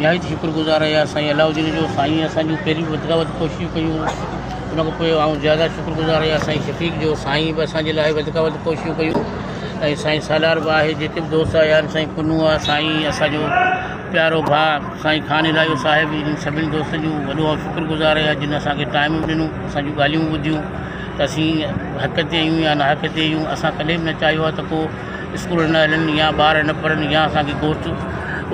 نهايت شڪر گذار آهيان سائين علاؤ الدين جو سائين اسان جون پهريون وڌ کان وڌ ڪوششون ڪيون ان کان پوء آئون زياده شڪر گذار آهيان سائين شفيق جو سائين به اسان جي لاء وڌ کان وڌ ڪوششون ڪيون ۽ سائين سالار به آهي جيڪي به دوست آيا آهن سائين پنهون آهي سائين اسان جو پيارو ڀاء سائين خان الاهيو صاحب انهن سڀني دوستن جو وڏو آئون شڪر گذار آهيان جن اسان کي ٽائم به ڏنو اسان جون ڳالهيون به ٻڌيون ته اسين حق تي آهيون يا ناحق تي آهيون اسان ڪڏهن به نه چاهيو آهي ته ڪو اسڪول نه هلن يا ٻار نه پڙهن يا اسان کي گوسٽ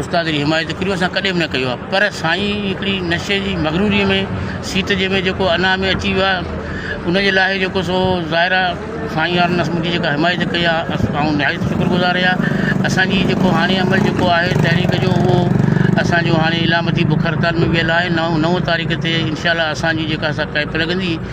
استاد جي حمايت ڪريو اسان ڪڏهن به نه ڪيو آهي پر سائين هڪڙي نشي جي مغروري ۾ سيٽ جي ۾ جيڪو انا ۾ اچي ويو آهي ان جي لاء جيڪو سو ظاهر آهي سائين يار نس منهنجي جيڪا حمايت ڪئي آهي اس آئون نهايت شڪر گذار آهيان اسانجي جيڪو هاڻي عمل جيڪو آهي تحريڪ جو اهو اسانجو هاڻي علامتي بک هڙتال ۾ ويل آهي نو نو تاريخ تي انشاء الله اسانجي جيڪا سا ڪئمپ لڳندي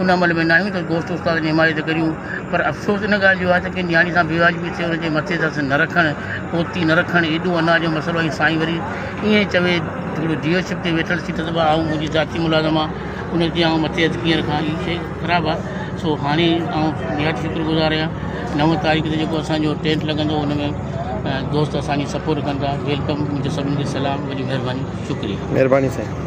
ان عمل ۾ ناهيون ته دوست استاد جي حمايت ڪريون پر افسوس ان ڳالهه جو آهي ته ڪنهن نياڻي سان بيواجبي ٿئي ان جي مٿي درس نه رکڻ پوتي نه رکڻ ايڏو انا جو مسئلو ۽ سائين وري ائين چوي ٿورو جيو شپ تي ويٺل سيٽ ته آئون منهنجي ذاتي ملازم آ ان تي آئون مٿي هٿ ڪيئن رکان هي شئي خراب آ سو هاڻي آئون نهايت شڪر گذار آهيان نو تاريخ تي جيڪو اسان جو ٽينٽ لڳندو ان ۾ دوست اسان جي سپورٽ ڪندا ويلڪم منهنجو سڀني کي سلام وڏي مهرباني شڪريا. مهرباني سائين.